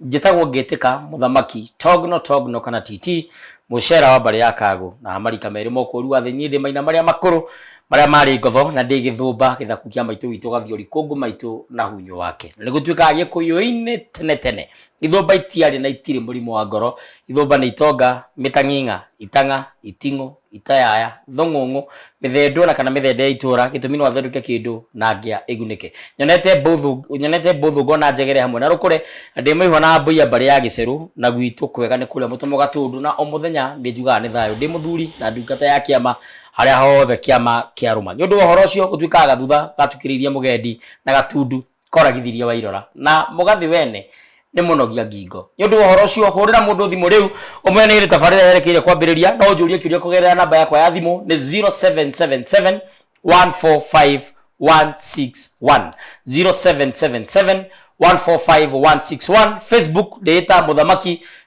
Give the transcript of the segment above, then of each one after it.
Njĩtagwo Ngĩtĩka, Mũthamaki, Togno, Togno kana TT, Mũcera wa mbarĩ ya Kagũ, na ha marika merĩ ma ũkũũri wa thĩ, niĩ ndĩ maina marĩa makũrũ, marĩa marĩ ngotho, na ndĩ gĩthũmba, gĩthaku kĩa maitũ witũ Gathiori, kũngũ maitũ na hunyo wake. Na nĩgũtuĩkaga Gĩkũyũ-inĩ tene tene, ithũmba itiarĩ na itirĩ mũrimũ wa ngoro, ithũmba nĩ itonga, mĩtang'ing'a, itang'a, iting'ũ, itayaya, thong'ong'o, mĩthendo ona kana mĩthende ya itũra gĩtũmi no athondeke kĩndũ na ngĩa ĩgunĩke nyonete mbũthũ nyonete mbũthũ ngona njegere hamwe na rũkũre na ndĩ mũihwa na mbũiya mbarĩ ya gĩcerũ na gwitũ kwega nĩ kũrĩa mũtomo gatũndũ na o mũthenya nĩ njugaga nĩ thayũ ndĩ mũthuri na ndungata ya kĩama harĩa hothe kĩama kĩarũma nĩ ũndũ wa ũhoro ũcio gũtuĩkaga gathutha gatukĩrĩirie mũgendi na gatundu Koragithirie Wairora na Mũgathĩ wene nĩ mũnogia ngingo. Nĩ ũndũ wa ũhoro ũcio, hũrĩra mũndũ thimũ rĩu ũmwĩre nĩ hĩndĩ tabarĩra yerekeire kwambĩrĩria. No ũnjũrie kĩũria kũgerera namba yakwa ya thimũ nĩ 0777 145 161 0777 145 161 Facebook ndĩĩta mũthamaki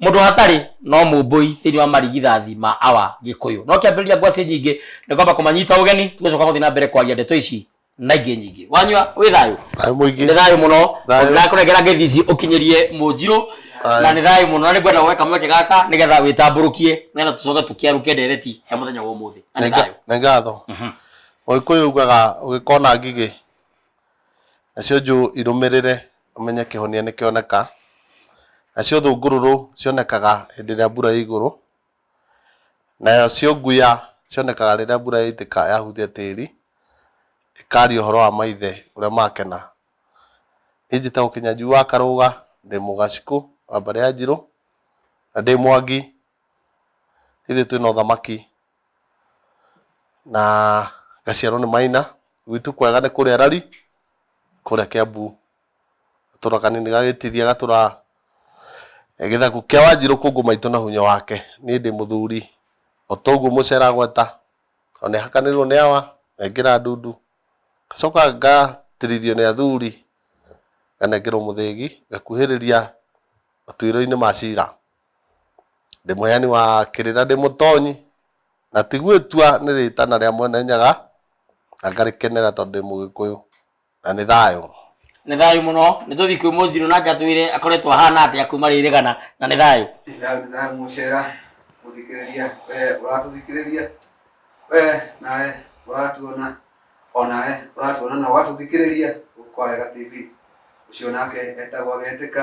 Mũndũ hatarĩ no mũmbũi thĩinĩ wa marigithathi ma awa Gĩkũyũ. No kĩambĩrĩria ngwacĩ nyingĩ nĩ kwamba kũmanyita ũgeni tũgũcoka gũthiĩ na mbere kwaria ndeto ici na ingĩ nyingĩ. Wanyua wĩ thayũ? Thayũ mũingĩ. Nĩ thayũ mũno. Thayũ. Ndĩrakũnengera ngeithi ici ũkinyĩrie Mũnjirũ Aye. na nĩ thayũ mũno na nĩ ngwenda woe kamweke gaka nĩgetha wĩtambũrũkie nĩgetha tũcoke tũkĩarũke ndereti ya mũthenya wa ũmũthĩ. Na nĩ thayũ. Nĩ ngatho. Mũgĩkũyũ augaga ũgĩkona ngigĩ nacio njũ irũmĩrĩre ũmenye kĩhonia nĩ kĩoneka, nacio thũngũrũrũ cionekaga hĩndĩ ĩrĩa mbura ĩ igũrũ, nacio nguya cionekaga rĩrĩa mbura yaitĩka yahutia tĩri, ĩkaria ũhoro wa maithe ũrĩa makena. Niĩ njĩtagwo Kĩnyanjui wa Karũga, ndĩ mũgacikũ wa mbarĩ ya Njirũ, na ndĩ Mwangi, ithuĩ twĩna ũthamaki na ngaciarwo nĩ Maina. Gwitũ kwega nĩ kũrĩa Rari, kũrĩa Kĩambu. Gatũra kanini gagĩtiria gatũra gĩthaku kĩa Wanjirũ kũngũ maitũ na hunyo wake. Niĩ ndĩ mũthuri o ta ũguo mũcera gweta, o nĩ hakanĩrĩirwo nĩ awa, ngaingĩra ndundu, ngacoka ngatirithio nĩ athuri, nganengerwo mũthĩgi, ngakuhĩrĩria matuĩro-inĩ ma cira. Ndĩ mũheani wa kĩrĩ na ndĩ mũtonyi, na ti gwĩtua nĩ rĩĩtana rĩa Mwene Nyaga, na ngarĩkenera tondũ ndĩ Mũgĩkũyũ, na nĩ thayũ. Nĩ thayũ mũno. Nĩ tũthiĩ kwĩ Mũnjirũ nake atwĩre akoretwo ahana atĩa kuuma rĩ rĩgana, na nĩ thayũ. Nĩ thayũ nĩ thayũ mũcera mũthikĩrĩria wee ũratũthikĩrĩria, wee nawe ũratuona, o nawe ũratuona na ũgatũthikĩrĩria gũkũ Kwawega TV. Ũcio nake etagwo Agetĩka,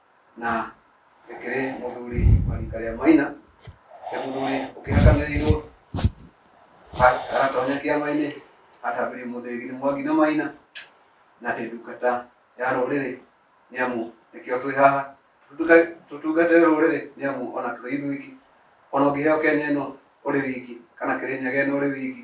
na ĩkĩrĩ mũthuri wa rika rĩa Maina, nĩ mũthuri ũkĩhakanĩrĩirwo aratonya kĩama-inĩ atambirie mũthĩgi nĩ Mwangi na Maina na nĩ ndungata ya rũrĩrĩ nĩ amu nĩkĩo twĩ haha tũtungate rũrĩrĩ nĩ amu ona tũrĩ ithuiki ona ũngĩheo Kenya ĩno ũrĩ wiki kana Kĩrĩnyaga ĩno ũrĩ wiki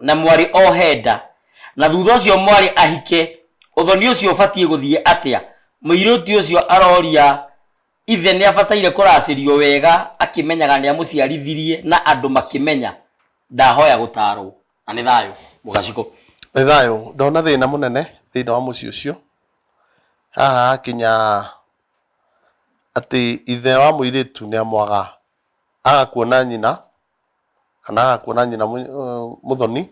na mwarĩ ohe nda, na thutha ũcio mwarĩ ahike, ũthoni ũcio ũbatiĩ gũthiĩ atĩa? Mũirĩtu ũcio aroria ithe nĩ abataire kũracĩrio wega akĩmenyaga nĩ amũciarithirie na andũ makĩmenya. Ndahoya gũtaarwo. Na nĩ thayũ. Mũgacikũ. Nĩ thayũ. Ndona thĩna mũnene thĩinĩ wa mũciĩ ũcio. Haha hakinya atĩ ithe wa mũirĩtu nĩ amwaga, aga kuona nyina, kana kuona nyina mũthoni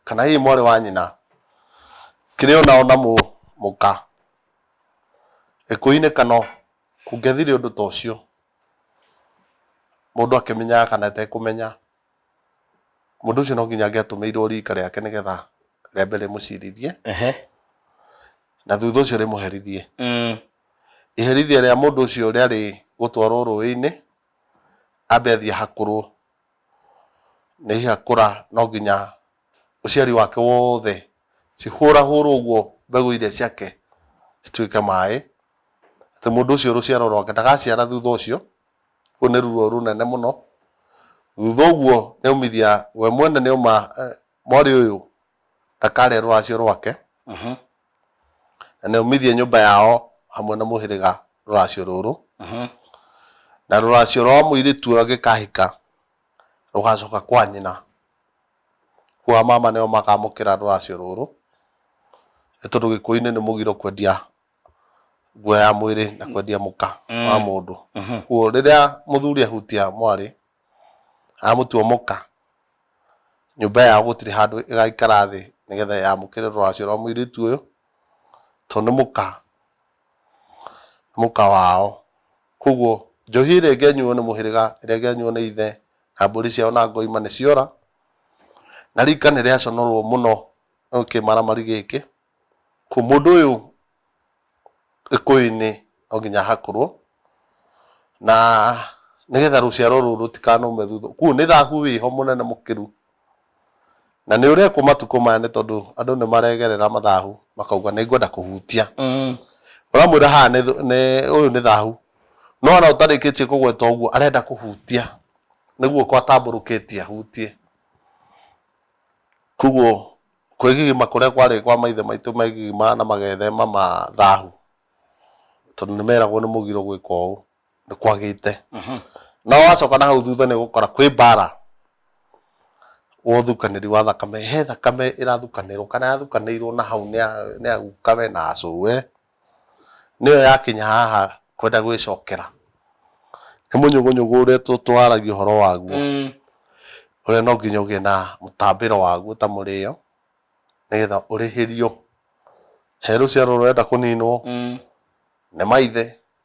kana hihi mwarĩ wa nyina kĩrĩ ona ona mũka gĩkũyũ-inĩ kano kũngĩathire ũndũ ta ũcio mũndũ akĩmenyaga kana atekũmenya mũndũ ũcio no nginya angĩatũmĩirwo rika rĩake nĩgetha rĩambe rĩmũcirithie na thutha ũcio rĩmũherithie. Iherithia rĩa mũndũ ũcio rĩarĩ gũtwarwo rũĩ-inĩ. ambe athiĩ ahakũrwo, na ehakũra no nginya ũciari wake wothe, cihũrahũrwo ũguo mbegũ iria ciake cituĩke maĩ, atĩ mũndũ ũcio rũciaro rwake ndagaciara thutha ũcio, rũu nĩ ruo rũnene mũno. Thutha ũguo nĩ aumithia, we mwene nĩ auma mwarĩ ũyũ ndakare rũracio rwake. na nĩ ũmithie nyũmba yao hamwe na mũhĩrĩga rũracio rũrũ, na rũracio rwa mũirĩtu ũyũ angĩkahika rũgacoka kwa nyina, kwa mama nĩo makamũkĩra rũracio rũrũ, nĩ tondũ gĩkũyũ-inĩ nĩ mũgiro kwendia nguo ya mwĩrĩ na kwendia mũka wa mũndũ, kũguo rĩrĩa mũthuri ahutia mwarĩ, amũtua mũka, nyũmba yao gũtirĩ handũ ĩgaikara thĩ nĩgetha yamũkĩre rũracio rwa mũirĩtu ũyũ, tondũ nĩ mũka, nĩ mũka wao. Koguo njohi ĩrĩa ĩngĩanyuo nĩ mũhĩrĩga, ĩrĩa ĩngĩanyuo nĩ ithe na mbũri ciao na ngo ima nĩ ciora, na rika nĩ rĩaconorwo mũno nĩ kĩmaramari gĩkĩ. Mũndũ ũyũ gĩkũyũ-inĩ no nginya ahakũrwo, na nĩgetha rũciaro rũrũ rũtikanaume thutha. Koguo nĩ thahu wĩho mũnene mũkĩru, na nĩ ũrekwo matukũ maya nĩ tondũ andũ nĩ maregerera mathahu makauga nĩ ngwenda kũhutia. Ũramwĩra haha nĩ nĩ ũyũ nĩ thahu, no ona ũtarĩkĩtie kũgweta ũguo arenda kũhutia, nĩ guoko atambũrũkĩtie ahutie. Kwoguo kwĩgigima kũrĩa kwarĩ kwa maithe maitũ megigimaga na magethema ma thahu, tondũ nĩ meragwo nĩ mũgiro gwĩka ũũ, nĩ kwagĩte. No wacoka na hau thutha nĩ ũgũkora kwĩ mbara wa ũthukanĩri wa thakame, he thakame ĩrathukanĩrwo kana yathukanĩirwo na hau nĩ ya guka we na acũwe. nĩyo yakinya haha kwenda gwĩcokera. Nĩ mũnyũgũnyũgũ ũrĩa tũaragia ũhoro waguo, ũrĩa no nginya ũgĩe na mũtambĩro waguo ta mũrĩo, nĩgetha ũrĩhĩrio. He rũciaro rũrenda kũninwo, nĩ maithe.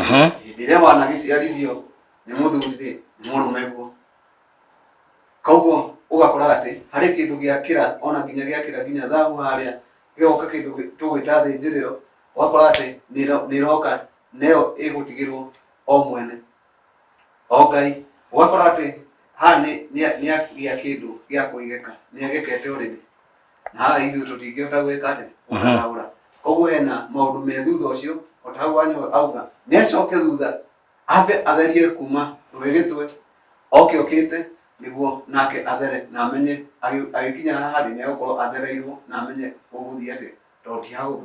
Mhm. hĩndĩ ĩrĩa wanagĩciarithio nĩ mũthuri rĩ nĩ mũrũme guo koguo ũgakora atĩ harĩ kĩndũ gĩakĩra ona nginya gĩakĩra nginya thahu harĩa gĩgoka kĩndũ gĩ- tũgwĩta thĩnjĩrĩro ũgakora atĩ nĩ ĩro- nĩ ĩroka nayo ĩgũtigĩrwo o mwene o ngai ũgakora atĩ haha nĩ- nĩ- nĩagĩa kĩndũ gĩa kũigĩka nĩagĩkete ũrĩrĩ na ithuĩ tũtingĩhota gwĩka atĩ gũkaraũra koguo hena maũndũ me thutha ũcio o ta hau wanyu auga nĩ acoke thutha ambe atherie kuma rũĩ gĩtwe oke okĩte nĩguo nake athere na amenye agĩ- agĩkinya haha rĩ nĩ agũkorwo athereirwo na amenye ũgũthiĩ atĩ to ti hahũthũ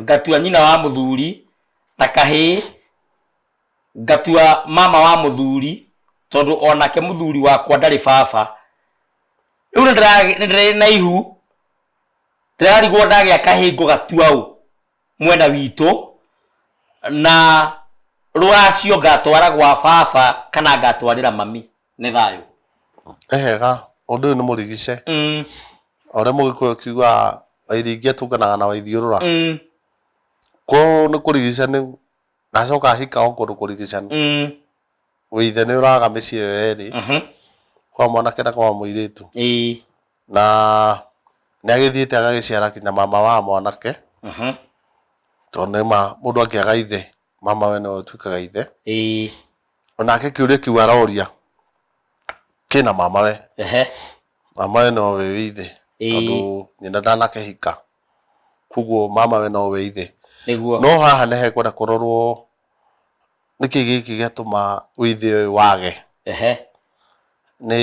ngatua nyina wa mũthuri na kahĩĩ ngatua mama wa mũthuri tondũ onake mũthuri wakwa ndarĩ baba rĩu nĩ ndĩra- nĩ ndĩrĩ na ihu ndĩrarigwo ndagĩa kahĩĩ ngũgatua ũ mwena witũ na rũracio ngatwara gwa baba kana ngatwarĩra mami nĩ thayũ. Ehega, ũndũ ũyũ nĩ mũrigice. Mm. O ũrĩa mũgĩkũyũ akiugaga wairingia tũnganaga na waithiũrũra. Mm. Kũũ nĩ kũrigica nĩ na acoka ahika o kũndũ kũrigicanu. Mm. Wĩithe nĩ ũraga mĩciĩ ĩyo yerĩ. Uh -huh. Kwa mwanake na kwa mũirĩtu. Ĩĩ. Na nĩ agĩthiĩte agagĩciara kinya mama wa mwanake. Uh -huh. Tondũ nĩ ma mũndũ angĩaga ithe mamawe nĩwe ũtuĩkaga ithe. Ĩĩ. onake kĩũria kĩu aroria kĩna mamawe ehe mamawe nowe wĩ ithe Ĩĩ. tondũ nyina ndanakĩhika koguo mamawe nowe ithe nĩguo no haha nĩ hekwenda kũrorwo nĩkĩ gĩkĩ gĩatũma ũithĩ ũyũ wage ehe nĩ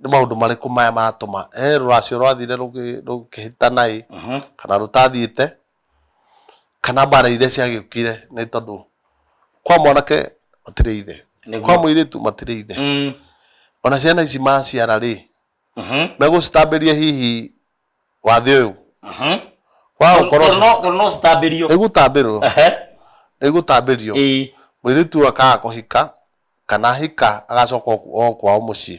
nĩ maũndũ marĩkũ maya maratũma he rũracio rwathire rũgĩ- rũkĩhĩtana ĩ Mhm. kana rũtathiĩte kana mbara iria ciagĩũkire nĩ tondũ kwa mwanake matirĩ ithe Nĩguo. kwa mũirĩtu matirĩ ithe Mm. ona ciana ici maciara rĩ Mhm. megũcitambĩria hihi wathĩ ũyũ Mhm. wa Tondũ gũkorwo no- tondũ no citambĩrio. ĩgũtambĩrwo Ehe. ĩgũtambĩrio Ĩĩ. mũirĩtu ũyũ akaga kũhika kana ahika agacoka o o kwao mũciĩ,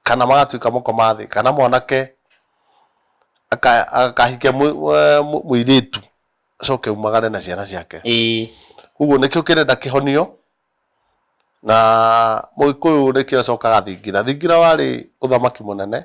kana magatuĩka mũkomathĩ, kana mwanake aka akahike mũ mũ mũirĩtu acoke aumagare na ciana ciake. Ĩĩ. Ũguo nĩkĩo kĩrenda kĩhonio, na mũgĩkũyũ nĩkĩo acokaga thingira. Thingira warĩ ũthamaki mũnene.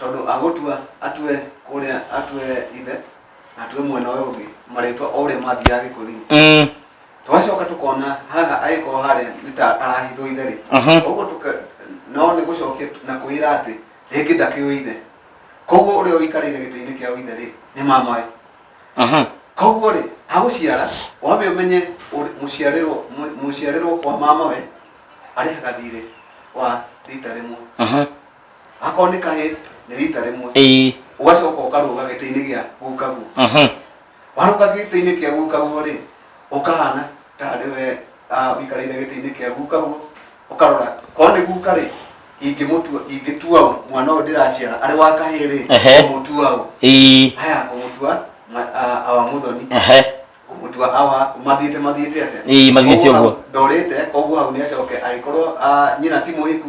tondũ agũtua atue kũrĩa atue ithe na atue mwena ũyũ ũngĩ marĩtwa o ũrĩa mathiaga gĩkũyũ-inĩ Mm. twacoka tũkona haha agĩkorwo harĩa nĩ ta arahithwo ithe rĩ Mhm. ũguo tũka no nĩ gũcokia na kwĩra atĩ rĩngĩ ndakĩũĩ ithe koguo ũrĩa ũikarĩire gĩtĩ-inĩ kĩa ithe rĩ nĩ mamawe Mhm. koguo rĩ agũciara wambe ũmenye ũrĩ- mũciarĩrwo mũ- mũciarĩrwo kwa mamawe arĩhaga thirĩ wa rita rĩmwe Mhm. akorwo nĩ kahĩ nĩ rita rĩmwe ĩĩ ũgacoka ũkarũga gĩtĩ-inĩ gĩa gukaguo mhm warũga gĩtĩ-inĩ kĩa gukaguo rĩ ũkahana ta arĩ we ah, ũikarĩire gĩtĩ-inĩ kĩa gukaguo ũkarora ko nĩ guka rĩ ingĩmũtua ingĩtua ũ mwana ũyũ ndĩraciara arĩ wa kahĩ rĩ Ehe. ũmũtua ũ ĩĩ haya ũmũtua ma- ah, awa mũthoni ehe ũmũtua awa mathiĩte mathiĩte atĩa Ĩĩ, mathiĩte Koguo ũguo. hau ndorĩte koguo hau nĩ acoke agĩkorwo ah, nyina ti mũhiku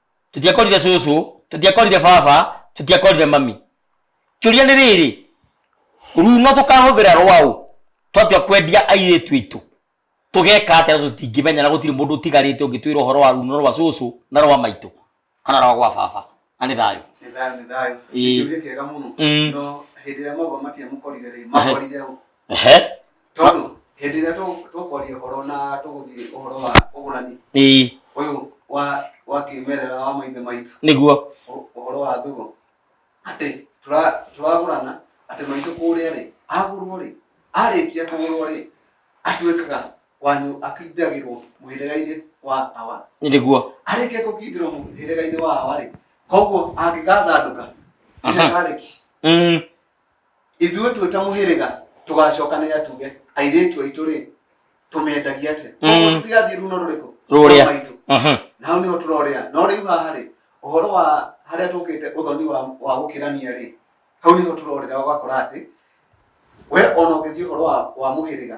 tũtiakorire cũcũ tũtiakorire baba tũtiakorire mami kĩũria nĩ rĩrĩ runo tũkahũthĩra rwaũ twatua kwendia airĩtu aitũ tũgeka atĩa na tũtingĩmenya na gũtirĩ mũndũ ũtigarĩte ũngĩtwĩra ũhoro wa runo rwa cũcũ na rwa maitũ kana rwa gwa baba na nĩ thayũ nĩ thayũ nĩ thayũ Ĩĩ. nĩ kĩũria kĩega mũno Mm. no hĩndĩ ĩrĩa mauga matiamũkorire rĩ makorire ũ ehe tondũ hĩndĩ ĩrĩa tũ- tũkwaria ũhoro na tũgũthiĩ ũhoro wa ũgũrani ĩĩ ũyũ wa wa kĩmerera wa maithe maitũ nĩguo ũ- ũhoro wa thũgũ atĩ tũra- tũragũrana atĩ maitũ kũrĩa rĩ agũrwo rĩ arĩkia kũgũrwo rĩ atuĩkaga wanyu akindagĩrwo mũhĩrĩga-inĩ wa awa nĩguo arĩkia gũkindĩrwo mũhĩrĩga-inĩ wa awa rĩ koguo angĩgathandũka Aha. nginya karĩki Mm, ithuĩ twĩ ta mũhĩrĩga tũgacokanĩra tuge airĩtu aitũ rĩ tũmendagia atĩa Mm. koguo tũtigathiĩ runo rũrĩkũ Rũrĩa. Rwa maitũ Mhm. na hau nĩho tũrorĩa no rĩu haha rĩ ũhoro wa harĩa tũkĩte ũthoni wa, wa gũkĩrania rĩ hau nĩho tũrorĩra ũgakora atĩ we ona ũgĩthiĩ ũhoro wa, wa mũhĩrĩga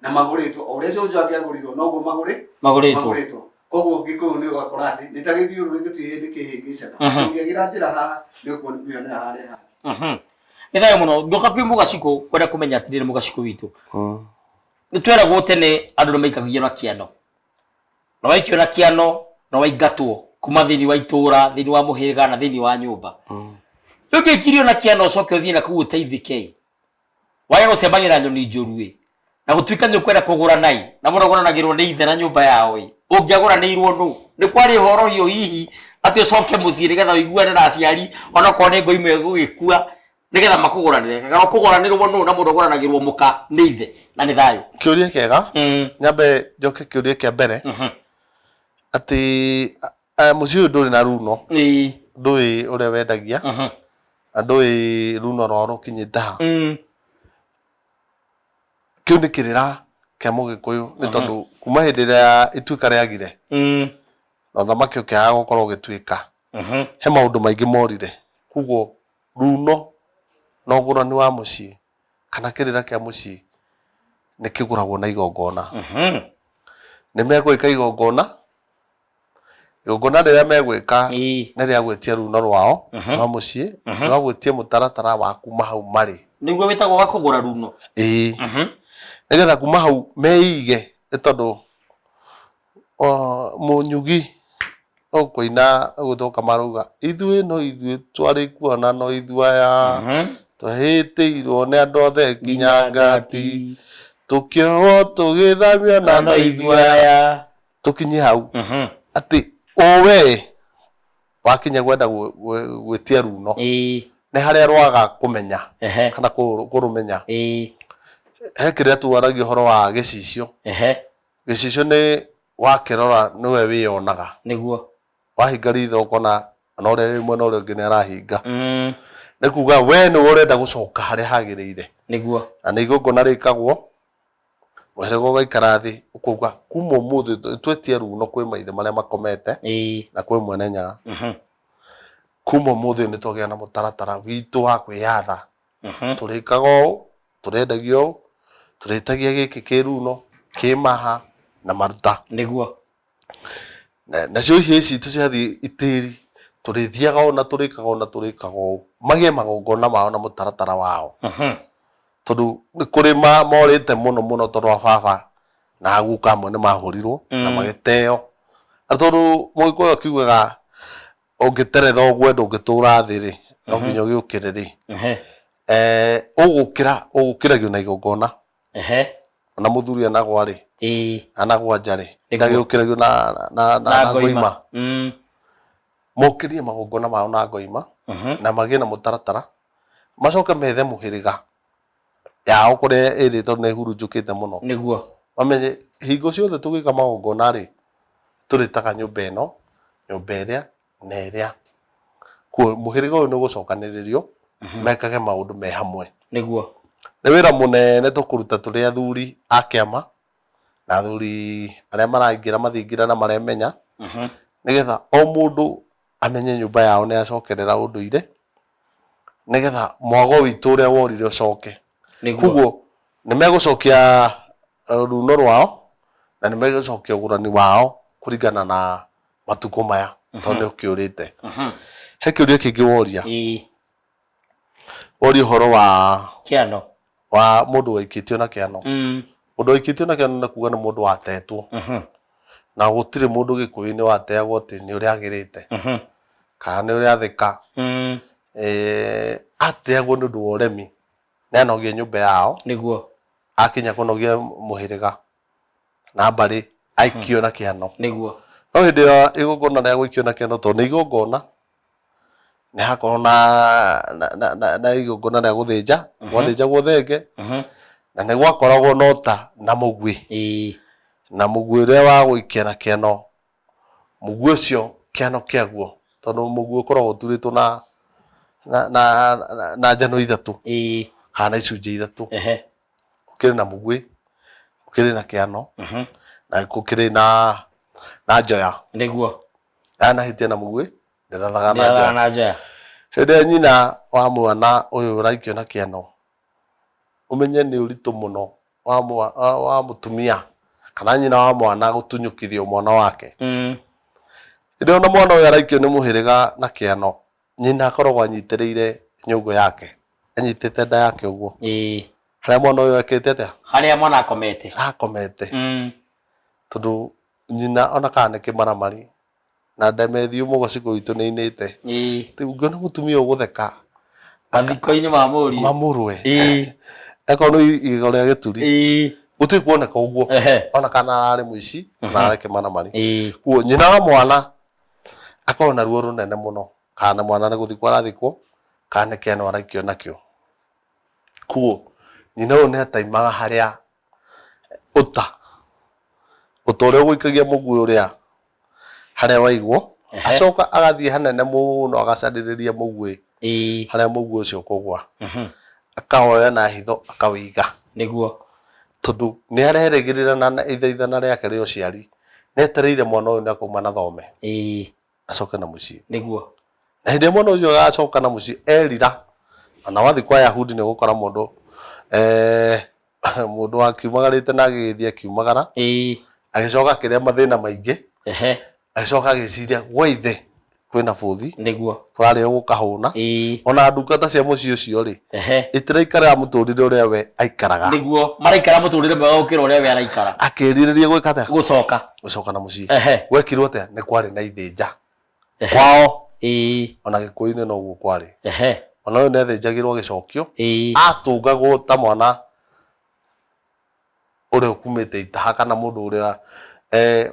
na magũrĩtwo o ũrĩa cũnjũ angĩagũrirwo noguo magũrĩ magũrĩtwo magũrĩtwo koguo gĩkũyũ nĩ ũgakora atĩ nĩ ta gĩthiũrũrĩ gĩtirĩ hĩndĩ kĩhĩngĩcana Mhm. ũngĩagĩra njĩra haha nĩ ũkuonera harĩa hangĩ Mhm. nĩ thayũ mũno ndoka kwĩ mũgacikũ kwenda kũmenya atĩrĩrĩ mũgacikũ witũ nĩ tweragwo tene andũ nĩ maikagio na kĩano na waikio na kĩano na waingatwo kuma thĩinĩ wa itũũra thĩinĩ wa mũhĩrĩga na thĩinĩ wa nyũmba rĩu ndĩkirio na kĩano ũcoke ũthiĩ na kuu ũteithĩke wage gũcembanĩra nyoni njũruĩ na gũtuĩka nĩ ũkwenda kũgũra nai na mũragũranagĩrwo nĩ ithe na nyũmba yao ĩ ũngĩagũranĩirwo nũ nĩ kwarĩ ũhoro hiũ hihi atĩ ũcoke mũciĩ nĩgetha ũiguane na aciari onakorwo nĩ ngoi imwe gũgĩkua nĩgetha makũgũranĩre kana ũkũgũranĩrwo nũ na mũndũ ũgũranagĩrwo mũka nĩ ithe na nĩ thayũ kĩũria kĩega nyambe njoke kĩũria kĩa mbere atĩ Eh, mũciĩ ũyũ ndũrĩ na runo Ĩĩ. ndũĩ ũrĩa wendagia Aha. na ndũĩ runo rwao rũkinyĩte ha Mm. kĩu nĩ kĩrĩra kĩa mũgĩkũyũ nĩ tondũ kuma hĩndĩ ĩrĩa ituĩka rĩagire Mm. na ũthamaki ũkĩaga gũkorwo ũgĩtuĩka Aha. he maũndũ maingĩ morire koguo runo na ũgũrani wa mũciĩ kana kĩrĩra kĩa mũciĩ nĩ kĩgũragwo na igongona Aha. nĩ megwĩka igongona igongona rĩrĩa megwĩka nĩ rĩa gwĩtia ruuno rwao rwa mũciĩ rwa gwĩtia mũtaratara wa kuma hau marĩ. Nĩguo wĩtagwo wa kũgũra ruuno? Ĩĩ. Nĩgetha kuma hau meige nĩ tondũ Mũnyugi ũkũina ũgũcoka marauga, ithuĩ no ithuĩ twarĩ kuo na no ithuĩ aya, twahĩtĩirwo nĩ andũ othe nginya ngati, tũkĩohwo tũgĩthamio na no ithuĩ aya. tũkinye hau Mhm. atĩ o wee wakinya gwenda gwĩ- gwĩ- gwĩtia runo Ĩĩ. nĩ harĩa rwaga kũmenya Ehe. kana kũ- kũrũmenya Ĩĩ. he kĩrĩa tuaragia ũhoro wa gĩcicio Ehe. gĩcicio nĩ wakĩrora nĩwe wĩyonaga Nĩguo. wahinga ritho ũkona na ũrĩa wĩ mwena ũrĩa ũngĩ nĩ arahinga Mm. nĩ kuga we nĩwe ũrenda gũcoka harĩa hagĩrĩire Nĩguo. na nĩ igongona rĩkagwo Mũhĩrĩga ũgaikara thĩ ũkauga kuma ũmũthĩ nĩ twetia ruuno kwĩ maithe marĩa makomete Ĩĩ. na kwĩ Mwene Nyaga. Mhm. Kuma ũmũthĩ nĩ twagĩa na mũtaratara witũ wa kwĩyatha. Mhm. Tũrĩkaga ũũ, tũrĩendagia ũũ, tũrĩtagia gĩkĩ kĩ ruuno, kĩ maha na maruta. Nĩguo. Na- nacio hĩa ici citũ ciathiĩ itĩri tũrĩthiaga ona tũrĩkaga ona tũrĩkaga ũũ magĩe magongona mao na mũtaratara wao Mhm. tondũ nĩ kũrĩ ma- morĩte mũno mũno tondũ a baba na a guka amwe nĩ mahũrirwo na Mm. magĩteo na tondũ mũgĩkũyũ akiugaga ũngĩteretha ũguo ndũngĩtũra thĩ rĩ no Mhm. nginya ũgĩũkĩre rĩ Ehe. eh, ũgũkĩra ũgũkĩragio na igongona ehe ona muthuri anagwa ri ii anagwa nja ri Nĩguo. ndagiukiragio na na na, na na ngoima mm mokirie magongona mao na ngoima mhm na magĩe na mũtaratara macoke methe mũhĩrĩga yao kũrĩa ĩrĩ tondũ nĩ ĩhurunjũkĩte mũno nĩguo mamenye hingo ciothe tũgĩka magongona rĩ tũrĩtaga nyũmba ĩno nyũmba ĩrĩa na ĩrĩa kuo. Mũhĩrĩga ũyũ nĩ ũgũcokanĩrĩrio mekage maũndũ me hamwe. Nĩguo. Nĩ wĩra mũnene tũkũruta tũrĩ athuri a kĩama na athuri arĩa maraingĩra mathingira na maremenya nĩgetha o mũndũ amenye nyũmba yao nĩ yacokerera ũndũire nĩgetha mwago witũ ũrĩa worire ũcoke. Koguo nĩ megũcokia runo rwao na nĩ megũcokia ũgũrani wao kũringana na matukũ maya tondũ nĩ ũkĩũrĩte Mhm. he kĩũria kĩngĩ woria Ĩĩ. woria ũhoro wa Kĩano. wa mũndũ waikĩtio na kĩano Mm. mũndũ waikĩtio na kĩano nĩ kuga nĩ mũndũ watetwo Mhm. na gũtirĩ mũndũ gĩkũyũ-inĩ wateagwo atĩ nĩ ũrĩa agĩrĩte Mhm. kana nĩ ũrĩa atheka Mm. Eh, ateagwo nĩ ũndũ wa ũremi nĩ anogie nyũmba yao Nĩguo. akinya kũnogia mũhĩrĩga na mbarĩ aikio na kĩhano nĩguo no hĩndĩ ya igongona rĩa gũikio na kĩhano tondũ nĩ igongona nĩ hakorwo na na- na- na- na igongona rĩa gũthĩnja gwathĩnjagwo thenge Mhm. na nĩ gwakoragwo na ũta na mũguĩ Ĩĩ. na mũguĩ ũrĩa wa gũikia na kĩano mũguĩ ũcio kĩano kĩaguo tondũ mũguĩ ũkoragwo ũturĩtwo na na, na, na, na njano ithatũ Ĩĩ. kana na icunjĩ ithatũ Ehe. gũkĩrĩ na mũgwĩ gũkĩrĩ na kĩano na gũkĩrĩ na na njoya nĩguo ndanahĩtia na mũgwĩ ndĩrathaga na njoya na njoya hĩndĩ ĩrĩa nyina wa mwana ũyũ ũraikio na kĩano ũmenye nĩ ũritũ mũno wa mwa wa wa mũtumia kana nyina wa mwana gũtunyũkithio mwana wake hĩndĩ ĩrĩa ona mwana ũyũ araikio nĩ mũhĩrĩga na kĩano. Nyina akoragwo anyitĩrĩire nyũngũ yake, anyitĩte nda yake ũguo. Ĩĩ. Harĩa mwana ũyũ ekĩte atĩa? Harĩa mwana akomete. Akomete. Mm. Tondũ nyina ona kana nĩ kĩmaramari, na ndemethi umu gũcigũ itũ nĩ inĩte. Ĩĩ. Rĩu ũngĩona mũtumia ũyũ gũtheka. Mathiko-inĩ ma mũriũ. Ma mũrũwe. Ĩĩ. Eko nĩ igego rĩa gĩturi. Ĩĩ. Gũtirĩ kuoneka ũguo. Ehe. Ona kana ararĩ mũici, kana ararĩ kĩmaramari. Ĩĩ. Kuo nyina wa mwana. akorwo na ruo rũnene mũno kana na mwana nĩ gũthikwo arathikwo kana nĩ kĩano araikio nakĩo kuo nyina ũyũ nĩ ataimaga harĩa ũta ũta ũrĩa ũgũikagia mũguĩ ũrĩa harĩa waigwo Ehe. acoka agathiĩ hanene mũno agacarĩrĩria mũguĩ Ĩĩ. harĩa mũguo ũcio ũkũgwa Mhm. akawoya na hitho akawĩiga Nĩguo. tondũ nĩ arerĩgĩrĩra na na ithaithana rĩake rĩa ũciari nĩ etereire mwana ũyũ nĩ akauma na thome Ĩĩ. acoke na mũciĩ Nĩguo. na hĩndĩ ĩrĩa mwana ũcio agacoka na mũciĩ erira ona wathiĩ kwa Ayahudi nĩ ũgũkora mũndũ eh, mũndũ wakiumagarĩte na agĩgĩthiĩ akiumagara ĩĩ agĩcoka akĩrĩa mathĩna maingĩ ehe agĩcoka agĩciria gwa ithe kwĩna bũthi nĩguo kũrarĩ o gũkahũna ĩĩ ona ndungata cia mũciĩ ũcio rĩ ehe itiraikarĩra mũtũrĩre ũrĩa we aikaraga nĩguo maraikara mũtũrĩre mwega gũkĩra ũrĩa we araikara akĩrirĩria gwĩka atĩa gũcoka gũcoka na mũciĩ ehe gwekirwo atĩa nĩ kwarĩ na ithĩnja kwao, ĩĩ. O na Gĩkũyũ-inĩ noguo kwarĩ. Ehe. O na ũyũ nĩathĩnjagĩrwo gĩcokio, ĩĩ. Atũngagwo ta mwana ũrĩa ũkumĩte itaha kana mũndũ ũrĩa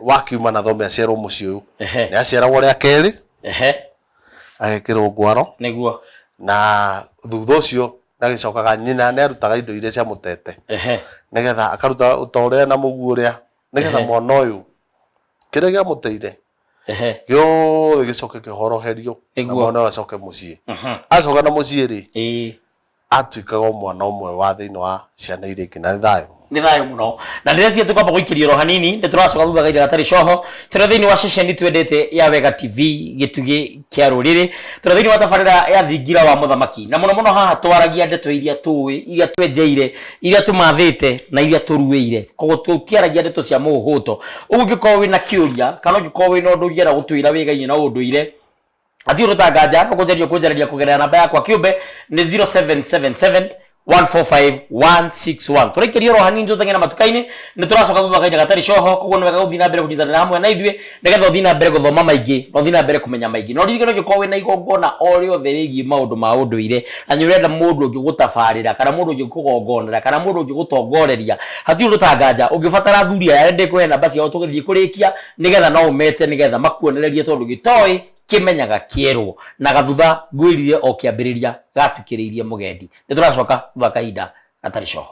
wakiuma na thome aciarwo mũciĩ ũyũ. Ehe. Nĩaciaragwo rĩa kerĩ. Ehe. Agekĩrwo ngwaro. Nĩguo. Na thutha ũcio nĩagĩcokaga, nyina nĩarutaga indo iria ciamũtete. Ehe. Nĩgetha akaruta o ta ũrĩa na mũguo ũrĩa, nĩgetha mwana ũyũ. kĩrĩa gĩamũteire ehe gĩothe gĩcoke kĩhoroherio na Nĩguo. mwana ũyũ acoke mũciĩ mhm, acoka na mũciĩ rĩ ĩĩ atuĩkaga o mwana ũmwe wa thĩinĩ wa ciana iria ingĩ na nĩ thayũ nä thayå må no na rä rä cia tå kamba gå ikä ro hanini nä tå racoka thutha gaitha gatarä coho tå rä thä inä wa ceceni twendete ya wega tv gä tugä kĩa rũrĩrĩ tondũ thĩinĩ wa tabarĩra ya thingira wa mũthamaki na mũno mũno haha twaragia ndeto iria tũĩ iria twenjeire iria tũmathĩte na iria tũruĩire koguo tũtiaragia ndeto cia mũhũto ũguo ũngĩkorwo wĩna kĩũria kana ũngĩkorwo wĩna ũndũ ũngĩenda gũtwĩra wĩgainie na ũndũire athiũrũta nganja ũkũnjaria ũkũnjarĩria kũgerera namba yakwa kĩũmbe nĩ 0777 145161 tũraikĩria oro hanini tũtenge na matuka-inĩ nĩ tũracoka thutha kaita gatarĩ coho koguo nĩ wega gũthiĩ na mbere kũnyitanĩra hamwe na ithuĩ nĩgetha ũthiĩ na mbere gũthoma maingĩ na ũthiĩ na mbere kũmenya maingĩ no ririkana ũngĩkorwo wĩna igongona o rĩothe rĩgiĩ maũndũ ma ũndũire na nĩ ũrenda mũndũ ũngĩ gũtabarĩra kana mũndũ ũngĩ kũgongonera kana mũndũ ũngĩ gũtongoreria hatirĩ ũndũ ta nganja ũngĩbatara athuri aya nĩ ndĩkũhe namba ciao tũgĩthiĩ kũrĩkia nĩgetha no ũmete nĩgetha makuonererie tondũ gĩtoĩ kĩmenyaga kĩerwo na gathutha ngwĩrire o kĩambĩrĩria gatukĩrĩirie mũgendi nĩ tũracoka thutha kahinda gatarĩ coho